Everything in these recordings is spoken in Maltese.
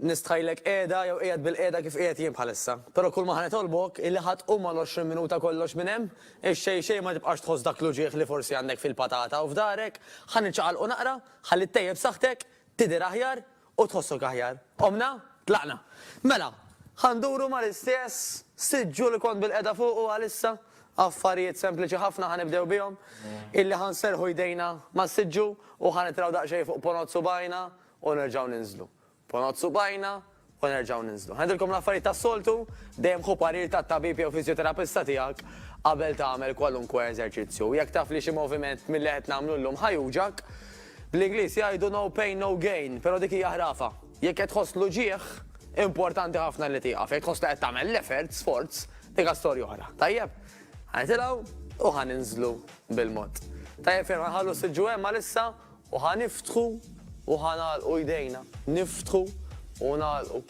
Nistħajlek qiegħda jew qiegħed bilqiegħda kif qiegħed jien bħalissa. Però kull ma ħa nitolbok illi ħa tqum għal għoxrin minuta kollox minn hemm, ix-xejn xejn ma tibqax tħoss dak l-uġigħ li forsi għandek fil-patata u f'dahrek, ħa niċċaqalqu naqra, ħalli ttejjeb saħħtek, tidher aħjar u tħossok aħjar. Qomna? Tlaqna. Mela, ħa nduru mal-istess siġġu li kont bilqiegħda fuqu għalissa, affarijiet sempliċi ħafna ħa nibdew bihom, illi ħa nserrħu jdejna mas-siġġu u ħa nitraw daqsxejn fuq ponot subgħajna u nerġgħu ninżlu. Ponot subgħajna u nerġgħu ninżlu. Ngħidilkom l-affarijiet tas-soltu, dejjem ħu parir tat-tabib jew fiżjoterapista tiegħek qabel tagħmel kwalunkwe eżerċizzju. U jekk taf li xi moviment milli qed nagħmlu llum ħa juġgħak, bl-Ingliż jgħidu no pain no gain, però dik hija ħrafa. Jekk qed tħoss l-uġigħ, importanti ħafna li tieqaf. Jekk tħoss li qed tagħmel l-effort, sforz, dik hija storja oħra. Tajjeb? Ħa nitilgħu u ħa ninżlu bil-mod. Tajjeb ferm, ħa nħallu s-siġġu hemm għalissa U ħa niftħu u ħa nagħlqu jdejna, niftħu u nagħlqu.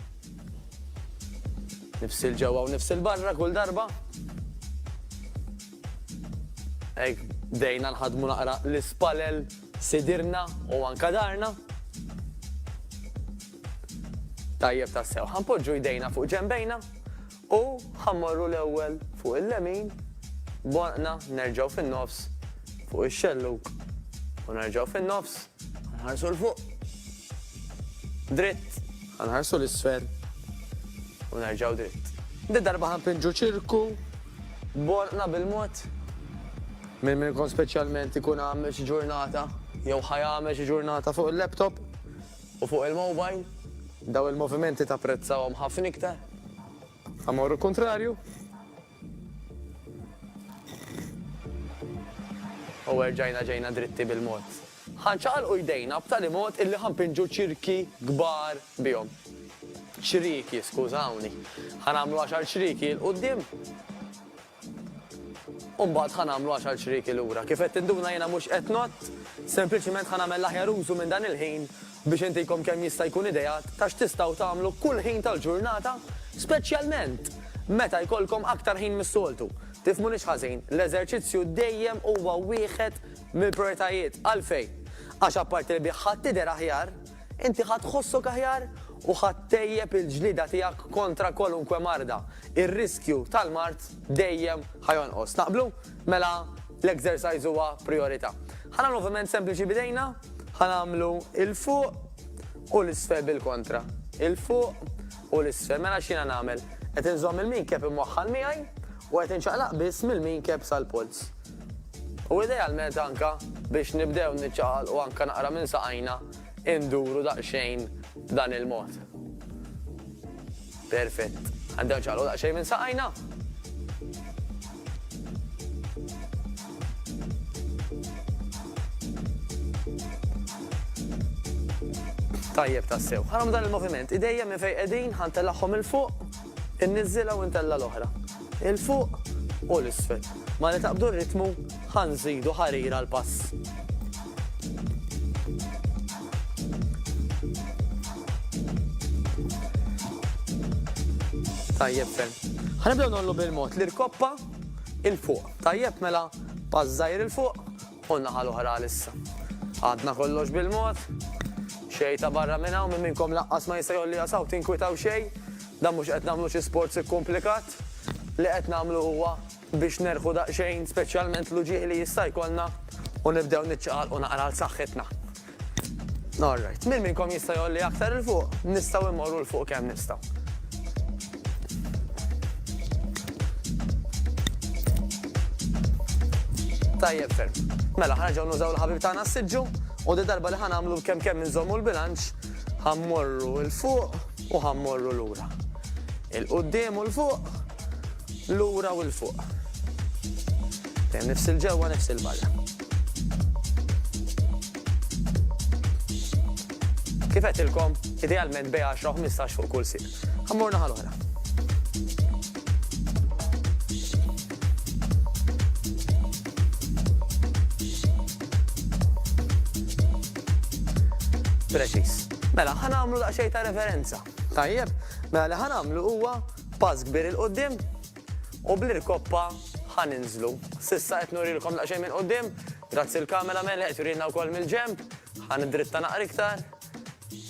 Nifsil ġewwa u nifsil barra kull darba. Hekk bdejna nħaddmu naqra l-ispalel sidirna u anka darna. Tajjeb tassew. Ħanpoġġu jdejna fuq ġembejna U ħa mmorru l-ewwel fuq il-lemin, b'għonqna nerġgħu fin-nofs fuq ix-xellug u nerġgħu fin-nofs, ħa nħarsu 'l fuq. Dritt, ħa nħarsu 'l isfel u nerġgħu dritt. Din darba ħa npinġu ċirku b'għonqna bil-mod. Min minnkom speċjalment ikun għamel xi ġurnata jew ħa jagħmel xi ġurnata fuq il-laptop, U fuq il-mobile? Dawn il-movimenti tapprezzahom ħafna iktar? Amor u kuntrarju? U erġajna ġejna dritti bil-mod. Ħa nċaqalqu jdejna b'tali mod illi ħa npinġu ċirki kbar bihom. Ċrieki, skużawni. Ħa nagħmlu għaxar ċrieki 'l quddiem. U mbagħad ħa nagħmlu għaxar ċrieki lura. Kif qed tinduna jiena mhux qed nott, sempliċiment ħa nagħmel l-aħjar użu minn dan il-ħin biex intikom kemm jista' jkun ideat ta' x'tistgħu tagħmlu kull ħin tal-ġurnata, speċjalment meta jkollkom aktar ħin mis-soltu. Tifhmunix ħażin, l-eżerċizzju dejjem huwa wieħed mill-prijoritajiet. Għalfejn? Għax apparti li bih ħadd tidher aħjar, Inti ħa tħossok aħjar u ħa ttejjeb il-ġlieda tiegħek kontra kwalunkwe marda. Ir-riskju tal-mard dejjem ħa jonqos. Taqblu? Mela l-exercise huwa prijorità. Ħa nagħmlu moviment sempliċi b'idejna, ħa nagħmlu 'il fuq u 'l isfel bil-kontra. 'Il fuq u l-isfel, mela x'jiena nagħmel? Qed inżomm il-minkeb imwaħħal miegħi u qed inċaqlaq biss mill-minkeb sal-polz. U idealment anke biex nibdew niċċaqalqu anke naqra minn saqajna induru daqsxejn b'dan il-mod. Perfett. Għandew nċaqalqu daqsxejn minn saqajna. Tajjeb tassew. Ħaram dan il-moviment, idejja minn fejn qegħdin ħantelagħhom il fuq, inniżilha u ntella' l-oħra. Il fuq u l-isfel. Mali taqbdu r-ritmu ħanżidu ħarira l-pass. Tajjeb ferm. Ħanibdew nollu bil-mod l-irkoppa il fuq. Tajjeb mela, pass żgħir 'il fuq u n-naħa l-oħra għalissa. Għadna kollox bil-mod. Xejta barra minn hawn, min minnkom laqqas ma jista' jgħolliha saw, tinkwitaw xejn. Dan mhux qed nagħmlu xi sports ikkumplikat. Li qed nagħmlu huwa biex nerħu daqsxejn speċjalment l-uġigħ li jista' jkollna u nibdew niċċaqalqu naqra għal saħħitna. All right. Min minnkom jista' jolli aktar il fuq? Nistgħu immorru l fuq kemm nistgħu. Tajjeb ferm. Mela ħarġaw nużaw l-ħabib tagħna s-siġġu u di darba li ħanamlu kemm kemm inżommu l-bilanċ ħammorru l fuq u ħammorru lura. Il-qudiem u l fuq, lura u l fuq. Dejjem nifs il-ġewwa, nifs il-barra. Kif qedtilkom, idealment bej 10 15 fuq kull sir. Ammur naħal oħra. Preċis. Mela, ħanamlu daqxej ta' referenza. Tajjeb, mela li ħanamlu huwa pass kbir il-qoddim, u bl-irkoppa ħa ninżlu. S'issa qed nurilkom daqsxejn minn quddiem, grazzi l-camera man li qed jurilna wkoll mill-ġenb, ħa niddritta naqra iktar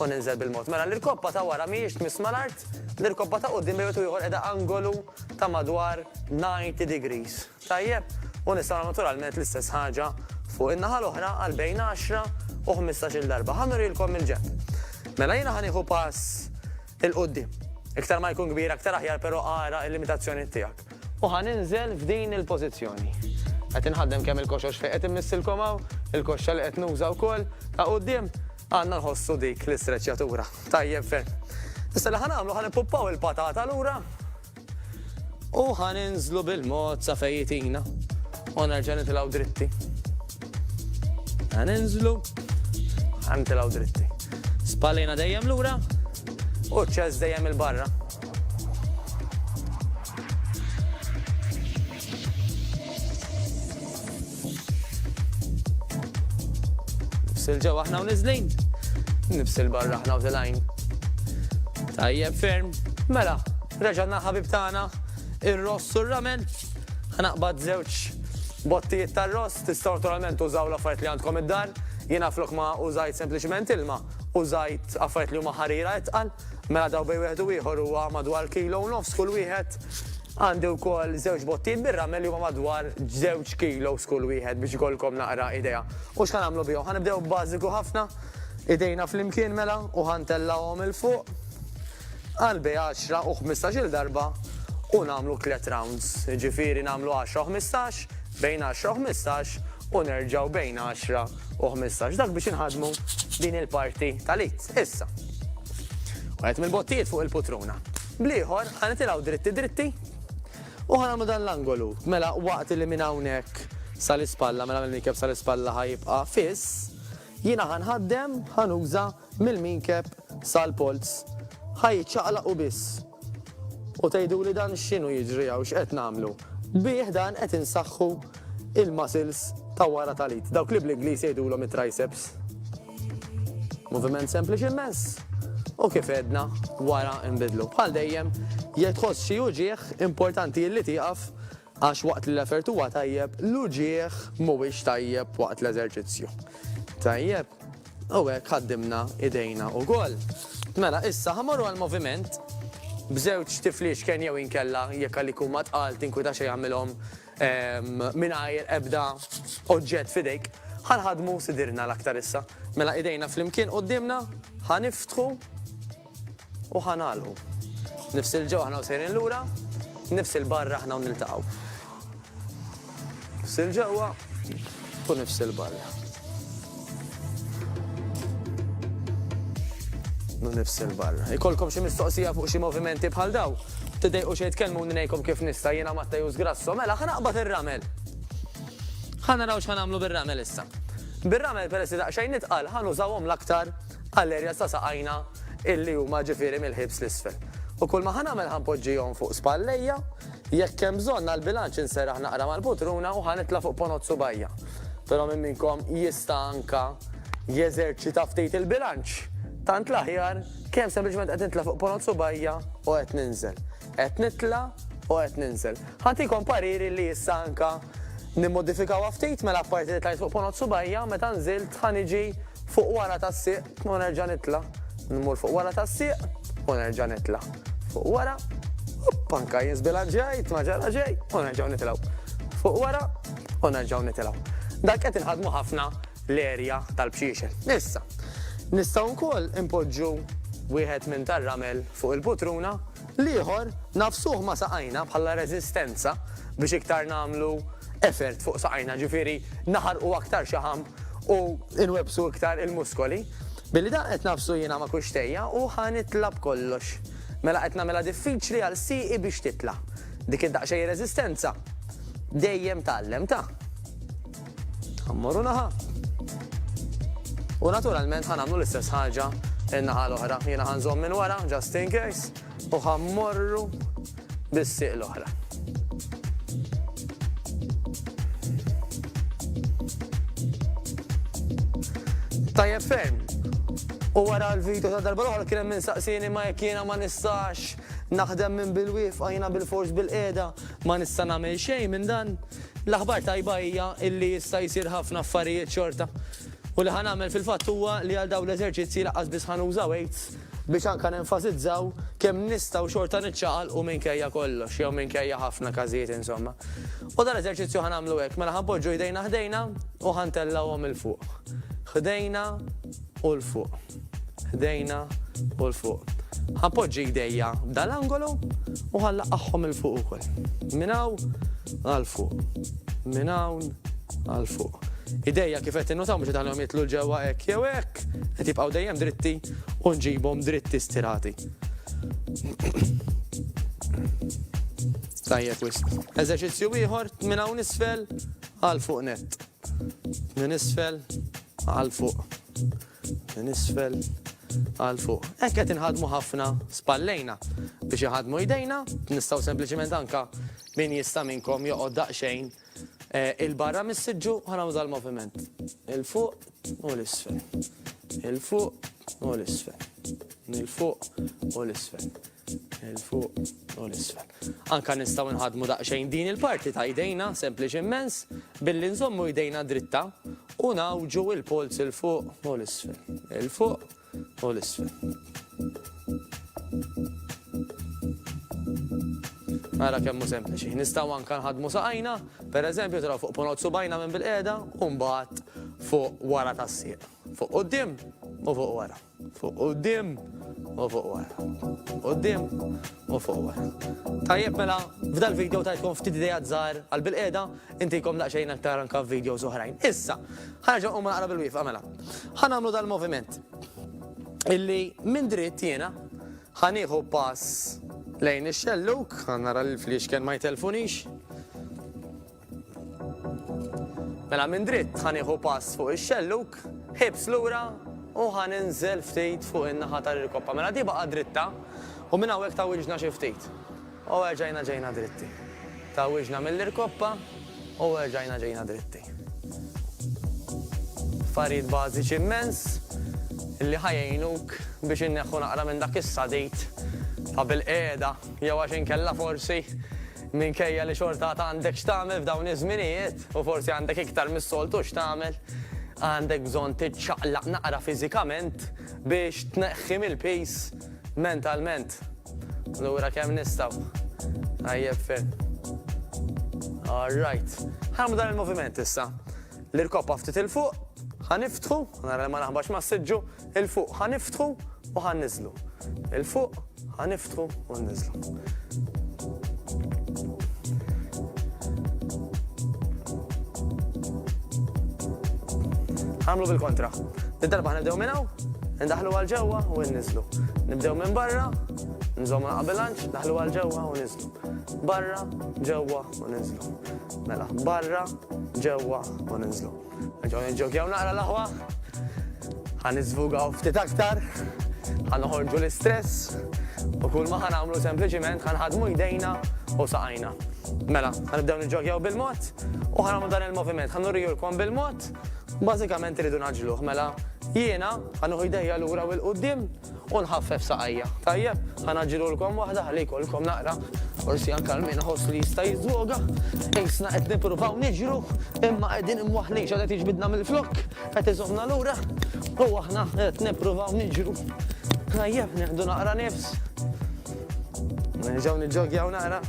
u ninżel bil-mod. Mela l-irkoppa ta' wara mhijiex tmiss mal-art, l-irkoppa ta' quddiem bejn wieħed u ieħor qiegħda angolu ta' madwar 90 degrees. Tajjeb? U nistgħu nagħmlu naturalment l-istess ħaġa fuq in-naħa l-oħra għal bejn għaxra u ħmistax-il darba. Ħa nurilkom mill-ġenb. Mela jiena ħa nieħu pass 'il quddiem. Iktar ma jkun kbir aktar aħjar però ara l-limitazzjonijiet tiegħek. U ħa ninżel f'din il-pożizzjoni. Qed inħaddem kemm il-koxox fejn qed immissilkom hawn, il-koxxa li qed nuża wkoll ta' quddiem, għandna nħossu dik l-istreċċjatura. Tajjeb ferm. Issa li ħa nagħmlu ħa nippuppaw il-patata lura. U ħa ninżlu bil-mod sa fejn jitina. U nerġa' nitilgħu dritti. Ħa ninżlu, ħa nitilgħu dritti. Spallina dejjem lura u ċess dejjem il-barra. Nibsil ġew aħna u nizlin. Nibsil barra aħna u tilajn. Tajjeb ferm. Mela, reġanna ħabib tagħna ir-ross u r-ramen. Ħanaqbad żewġ bottijiet tar-ross tistgħu naturalment użaw l-affarijiet li għandkom id-dar. Jiena flok ma użajt sempliċement ilma, użajt affarijiet li huma ħarira itqal. Mela daw bej wieħed u ieħor huwa madwar kilo u nofs kull wieħed. Għandi wkoll żewġ bottijiet bir-ramel li huma madwar żewġ kilos kull wieħed biex ikollkom naqra idea. U x'ħa nagħmlu bihom? Ħa nibdew b'bażiku ħafna, idejna flimkien mela u ħa ntellgħuhom 'il fuq għal bejn għaxra u ħmistax-il darba u nagħmlu tliet rounds. Jiġifieri nagħmlu għaxra u ħmistax, bejn għaxra u ħmistax u nerġgħu bejn għaxra u ħmistax. Dak biex inħaddmu din il-parti tal-id. Issa. Wieħed mill-bottijiet fuq il-putruna. Bl-ieħor, ħa nitilgħu dritti dritti u ħa nagħmlu dan l-angolu. Mela waqt li minn hawnhekk sal-ispalla, mela mill-minkeb sal-ispalla ħa jibqa' fiss, jiena ħa nħaddem, ħa nuża mill-minkeb sal-polz. Ħa jiċċaqlaq u biss. U tgħiduli dan x'inhu jiġri hawn x'qed nagħmlu. Bih dan qed insaħħu il-muscles ta' wara tal-id, dawk li bl-Ingliż jgħidulhom it-triceps. Moviment sempliċi immens u kif għedna wara nbidlu. Bħal dejjem, jekk tħoss xi uġieħ importanti li tieqaf għax waqt li l-effert huwa tajjeb, l-uġieħ mhuwiex tajjeb waqt l-eżerċizzju. Tajjeb, u hekk ħaddimna idejna u gol. Mela, issa ħamorru għal-moviment b'żewġ tifliex kien jew inkella jekk għalik huma tqal tinkwita xejn jagħmilhom Mingħajr ebda oġġett f'idejk, ħa nħaddmu sidirna l-aktar issa. Mela idejna flimkien quddiemna, ħa niftħu u ħa nagħlqu. Nifs 'il ġewwa aħna u sejrin lura, nifs 'il barra aħna u niltaqgħu. Nifs 'il ġewwa u nifs 'il barra. nifs il-bar. Ikolkom xi mistoqsija fuq xi movimenti bħal daw. Tidejqu xejn tkellmu ngħidkom kif nista' jiena Matteus Grasso, mela ħa naqbad ir-ramel. Ħa naraw x'ħa nagħmlu bir-ramel issa. Bir-ramel peress li daqsxejn nitqal ħa nużawhom l-aktar għall-erja sa saqajna illi huma ġifieri mill-ħibs l-isfel. U kull ma ħa nagħmel ħa npoġġihom fuq spallejja, jekk hemm bżonn għall-bilanċ inseraħ naqra mal-putruna u ħa nitla' fuq ponot subajja. Però min minnkom jista' anke jeżerċita ftit il-bilanċ? Tant l-aħjar, kemm sempliċement qed nitla' fuq ponot subgħajja u qed ninżel. Qed nitla' u qed ninżel. Ħa ntikom pariri li issa anke nimmodifikawha ftit, mela apparti li tlajt fuq ponot subgħajja, meta nżilt ħa niġi fuq wara tas-sieq, U nerġa' nitla', nmur fuq wara tas-sieq, u nerġa' nitla' fuq wara, opp anka jien żbilanċjajt ma ġara xejn, u nerġgħu nitilgħu fuq wara, u nerġgħu nitilgħu. Dak qed inħaddmu ħafna l-erja tal-bxiexel. Issa, nistgħu wkoll inpoġġu wieħed minn tar-ramel fuq il-putruna L-ieħor, nagħfsuh ma' saqajna bħala reżistenza biex iktar nagħmlu effort fuq saqajna, ġifieri naħarqu aktar xi ħamb u nwebbsu iktar il-muskoli. Billi dan qed nagħfsu jiena ma' kuxtejja u ħa nitla' b'kollox. Mela qed nagħmilha diffiċli għal sieqi biex titla'. Dik id-daqsxejn reżistenza dejjem tgħallem, ta? Ħa mmorru naħa. U naturalment ħa nagħmlu l-istess ħaġa in-naħa l-oħra. Jiena ħa nżomm minn wara, just in case, u ħa mmorru bis-sieq l-oħra. Tajjeb ferm. U wara l-video ta' darba l-oħra kien hemm insaqsieni ma jekk jiena ma nistax naħdem minn bil-wifqa jiena bil-fors bil-qiegħda ma nista' nagħmel xejn minn dan. L-aħbar tajba hija illi jista' jsir ħafna affarijiet xorta. U li ħa nagħmel fil-fatt huwa li għal dawn l-eżerċizzji lanqas biss ħa nuża weights biex anke nenfasizzaw kemm nistgħu xorta niċċaqalqu minkejja kollox jew minkejja ħafna każijiet insomma. U dal-eżerċizzju ħa nagħmlu hekk, mela ħa npoġġu jdejna ħdejna u ħa ntellgħuhom 'il fuq. Ħdejna u 'l fuq. ħdejna u 'l fuq. Ħanpoġġi jdejja f'dan l-angolu u ħanlaqqagħhom 'il fuq ukoll. Minn hawn għal fuq. Minn hawn għal fuq. Idejja kif qed tinnutaw mhux qed iħallihom jidħlu 'l ġewwa hekk jew hekk, qed jibqgħu dejjem dritti u nġibhom dritti stirati. Tajjeb wisq. Eżerċizzju ieħor, minn hawn isfel għal fuq nett. Minn isfel għal fuq. Minn isfel għal fuq. Hekk qed inħaddmu ħafna spallejna biex iħaddmu jdejna, nistgħu sempliċiment anka min jista' minnkom joqgħod daqsxejn il-barra mis-siġġu ħanagħmlu dal-moviment. Il-fuq u l-isfel. Il-fuq u l-isfel. Il-fuq u l-isfel. Il fuq u l-isfel. Anka nistgħu nħadmu daqsxejn din il-parti ta' jdejna sempliċi immens billi nżommu jdejna dritta u nawġu il-polz il fuq u l-isfel. Il fuq u l-isfel. Ara kemmu sempliċi. Nistaw anka nħadmu saqajna, per eżempju, taraw fuq ponot subajna minn bil-qeda, un fuq wara tas-sieq. Fuq qoddim u fuq wara. Fuq quddiem u fuq wara. Quddiem u fuq wara. Tajjeb mela, f'dal video tajtkom ftit idejat żgħar għal bilqiegħda, intikom daqsxejn aktar anke f'videos oħrajn. Issa, ħa nerġa' nqum naqra bil-wieqfa mela. Ħa nagħmlu dal-moviment illi minn dritt jiena ħa nieħu pass lejn ix-xellug, ħa nara l-fliexken ma jtellfunix. Mela minn dritt ħa nieħu pass fuq ix-xellug, ħibs lura u ħa ninżel ftit fuq in-naħa tal-irkoppa. Mela di baqa' dritta u minn hawnhekk tgħawwiġna xi ftit. U erġajna ġejna dritti. Tgħawwiġna mill-irkoppa u erġajna ġejna dritti. Affarijiet bażiċi immens li ħa jgħinuk biex inneħħu naqra minn dak is-sadid ta' bilqiegħda jew għax inkella forsi Minkejja li xorta għad għandek x'tagħmel f'dawn iż-żminijiet, u forsi għandek iktar mis-soltu x'tagħmel, għandek bżonn tiċċaqlaq naqra fiżikament biex tneħħi mill-piż mentalment. Allura kemm nistgħu? Tajjeb ferm. All right. Ħarmu dan il-moviment issa. L-irkoppa ftit il-fuq, ħa niftħu, nara ma naħbax ma s-siġġu, 'Il fuq ħa niftħu u ħa nniżżlu. 'Il fuq ħa niftħu u nniżżlu. Ħa nagħmlu bil-kontra. Din darba ħa nibdew minn hawn, indaħħlu għal ġewwa u nniżżlu. Nibdew minn barra, nżommu naqqa' bilanċ, naħlu għal ġewwa u niżżlu. Barra, ġewwa u niżżlu. Mela, barra, ġewwa u niżżlu. Nġaw nġokjaw naqra l-aħwa. Għan izvugaw ftit aktar. Għan uħorġu l-istress. U kull ma għan għamlu sempliciment għan ħadmu jdejna u saqajna. Mela, għan ibdew nġokjaw bil-mod u għan għamlu dan il-moviment. Għan urriju l-kom bil-mod. Bazzikament rridu naġluħ. Mela, jiena għan uħu jdejja l-ura u l-qoddim. u nħaffef saqajja. Tajjeb, ħa ngħaġġilulkom waħda ħalli jkollkom naqra, forsi anke għal min iħoss li jista' jiżżwoga. Qisna qed nippruvaw niġru, imma qegħdin imwaħħlin x'għad qed jiġbidna mill-flokk, qed iżommna lura, u aħna qed nippruvaw niġru. Tajjeb, nieħdu naqra nifs. Nerġgħu niġġogjaw naqra.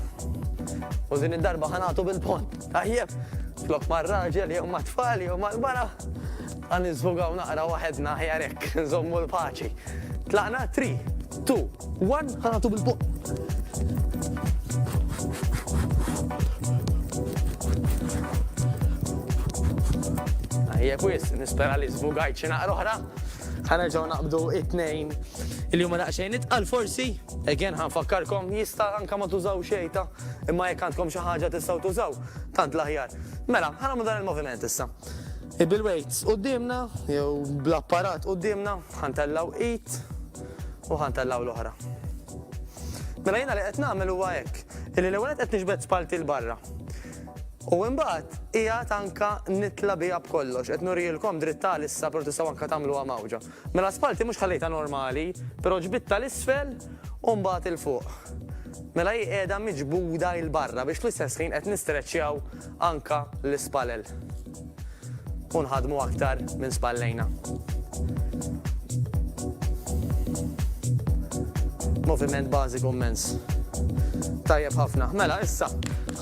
U din id-darba ħa nagħtu bil-pont. Tajjeb, flok mar-raġel jew mat-tfal jew mal-mara. Ħa niżvugaw naqra waħedna aħjar hekk, nżommu l-paċi. Tlaqna, three, two, one, ħa nagħtu bil-buq. Tajjeb wis, nispera li żvugajt xi naqra oħra. Ħa nerġgħu naqbdu it-tnejn li huma daqsxejn itqal forsi. Again ħa nfakkarkom jista' anke ma tużaw xejta, imma jekk għandkom xi ħaġa tistgħu tużaw, tant l-aħjar. Mela, ħa nagħmlu dan il-moviment issa. Bil-weights quddiemna jew bl-apparat quddiemna ħantellgħu id u ħantellgħu l-oħra. Mela jiena li qed nagħmel huwa hekk, illi l-ewwel qed niġbed spallti 'l barra. U imbagħad qiegħed anke nitla' biha b'kollox, qed nurielkom dritt għalissa, però tistgħu anke tagħmluha mgħawġa. Mela spalti mhux ħallejtha normali, pero ġbidtha l-isfel u mbagħad il fuq. Mela hi qiegħda miġbuda il barra biex fl-istess ħin qed nistreċċjaw anka l-ispalel. U nħadmu aktar minn spallejna. Moviment bażiku immens. Tajjeb ħafna. Mela issa,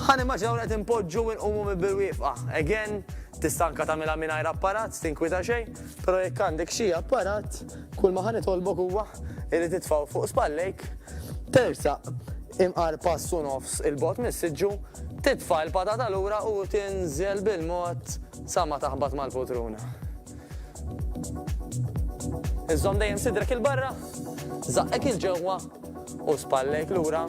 ħan immaġinaw qed inpoġġu u nqumu mibil-wieqfa. Again, tista' anka tagħmilha mingħajr apparat, tinkwita xejn. Però jekk għandek xi apparat, kull ma ħa nitolbok huwa li titfgħu fuq spallejk, tersaq imqar pass u nofs 'il bogħod mis-siġġu, titfa' l-patata lura u tinżel bil-mod sa ma taħbat mal-poltruna. Iżżomm dejjem sidrek 'il barra, żaqqek 'il ġewwa u spallejk lura.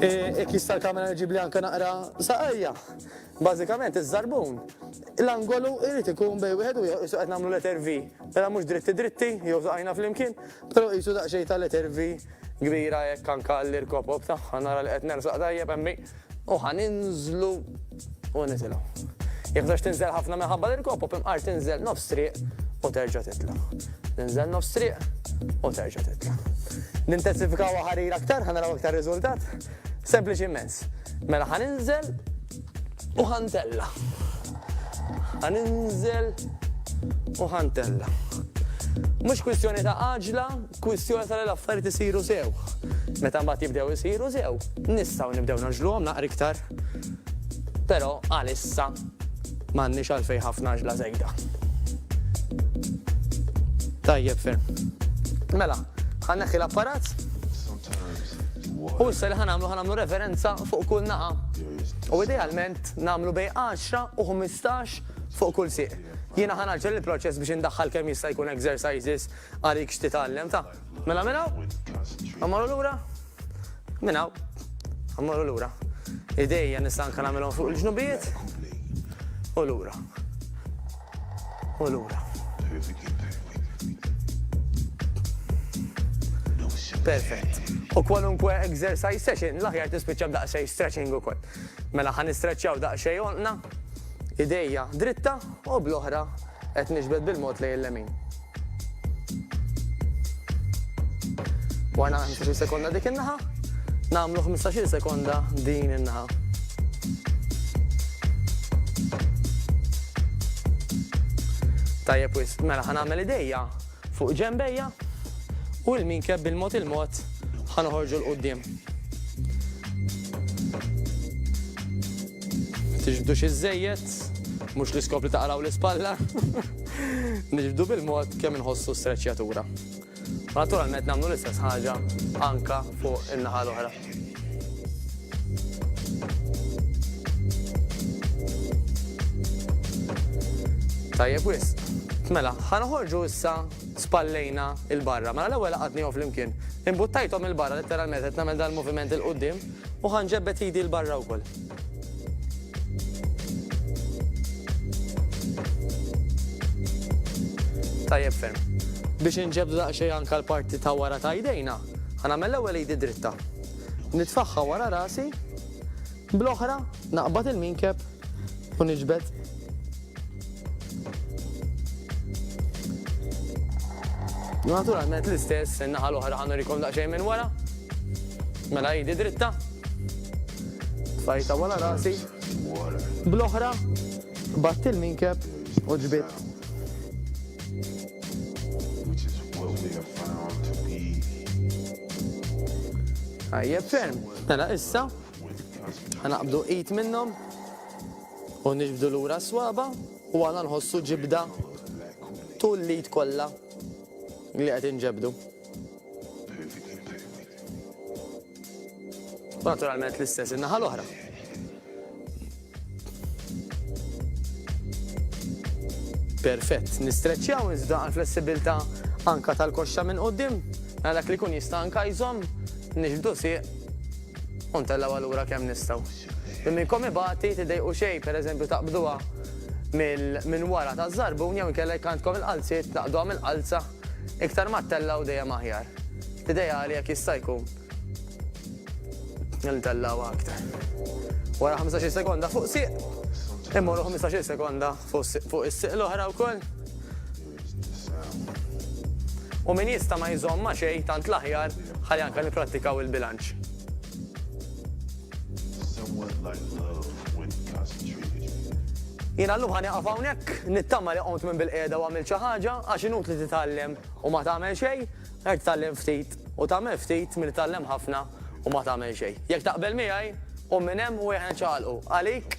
Jekk jista' l-kamera ġibli anke naqra saqajja. Bażikament iż-żarbun, l-angolu jrid ikun bejn wieħed u ieħor qisu qed nagħmlu letter V. Mela mhux dritti dritti, jew żaqajna flimkien, però qisu daqsxejn ta' letter V kbira hekk anke għall-irkopob tagħha nara li qed nersaq tajjeb hemmi u ħa ninżlu u nitilgħu. Jekk bżonnx tinżel ħafna minħabba l-irkopob imqar tinżel nofs triq u terġa' titla'. Tinżel nofs triq u terġa' titla'. Nintensifikawha ħarir aktar ħa naraw aktar riżultat. Sempliċi immens. Mela ħa ninżel u ħa ntella. Ħa ninżel u ħa ntella. Mhux kwistjoni ta' għaġla, kwistjoni ta' l-affarijiet isiru sew. Meta mbagħad jibdew isiru sew, nistgħu nibdew naġluhom naqra iktar. Però għalissa m'għandniex għalfejn ħafna ġla żejda. Tajjeb ferm. Mela, ħanneħħi l-apparat. U issa li ħanamlu ħanamlu referenza fuq kull naqa. U idealment namlu bej 10 u 15 fuq kull siq. Jiena ħanaġġel il-proċess biex indaħħal kemm jista' jkun exercises għalik x'titgħallem ta'. Mela minn hawn? Immorru lura? Minn hawn. Immorru lura. Idejja nista' anke nagħmilhom fuq il-ġnubijiet u lura. u lura. Perfett. U kwalunkwe exercise session, l-aħjar tispiċċa b'daqsxejn stretching ukoll. Mela ħan istretchjaw daqsxejn onqna, idejja dritta u bl-oħra qed nixbet bil-mod lejn l-lemin. Warna 15 sekonda dik in-naħa, nagħmlu 15 sekonda din in-naħa. Tajjeb wis, mela ħanagħmel idejja fuq ġembejja u l-minkeb bil-mod il-mod ħanoħorġu l-qoddim. Ma tiġbdux iżżejjed, mhux l-iskop li taqraw l-ispalla. Niġbdu bil-mod kemm inħossu streċjatura. U naturalment nagħmlu l-istess ħaġa anka fuq in-naħa l-oħra. Tajjeb wis. Mela, ħanoħorġu issa spallejna il-barra. Mela l-ewwel għadni flimkien. Imbuttajthom il-barra letteralment qed nagħmel dal-moviment il-qudiem. U ħa nġebbed idi 'l barra wkoll. Tajjeb ferm. Biex inġebbdu daqsxejn anke l-parti ta' wara ta' idejna, ħa nagħmel l-ewwel idi dritta. Nitfagħha wara rasi, bl-oħra naqbad il-minkeb u niġbed Naturalment l-istess in-naħa l-oħra ħanur ikun daqsxejn minn wara. Mela jidi dritta. Fajta wara rasi. Bl-oħra batt il-minkeb u ġbit. Għajjeb ferm. Mela issa, għanaqbdu it minnom. U niġbdu lura s-swaba' u aħna nħossu ġibda tul l-id kollha li qed inġebdu. U naturalment l-istess in-naħa l-oħra. Perfett, nistreċċjaw iżda għal flessibilità anka tal-koxxa minn qudiem, mela dak li jkun jista' anka jżomm nixbdu sieq u ntellgħu allura kemm nistgħu. Minn minnkom ibati tiddejqu xejn, per eżempju taqbduha mill minn wara taż-żarbun jew inkella jekk għandkom il-qalziet tnaqqduha mill-qalza, iktar ma ttellgħu dejjem aħjar. L-ideali jekk jista' jkun li ntellgħuha aktar. Wara ħamsax-il sekonda fuq sieq, immorru ħmistax-il sekonda fuq is-sieq l-oħra wkoll. U min jista' ma jżomm ma' xejn tant l-aħjar ħalli anke nipprattikaw il-bilanċ. Jiena llum ħa nieqaf hawnhekk, nittama li qomt minn bil-qiegħda u għamilt xi ħaġa għax inutli titgħallem u ma tagħmel xejn, ħer titgħallem ftit u tagħmel ftit milli tgħallem ħafna u ma tagħmel xejn. Jekk taqbel miegħi, qum minn hemm u ejja niċċaqalqu. Għalik?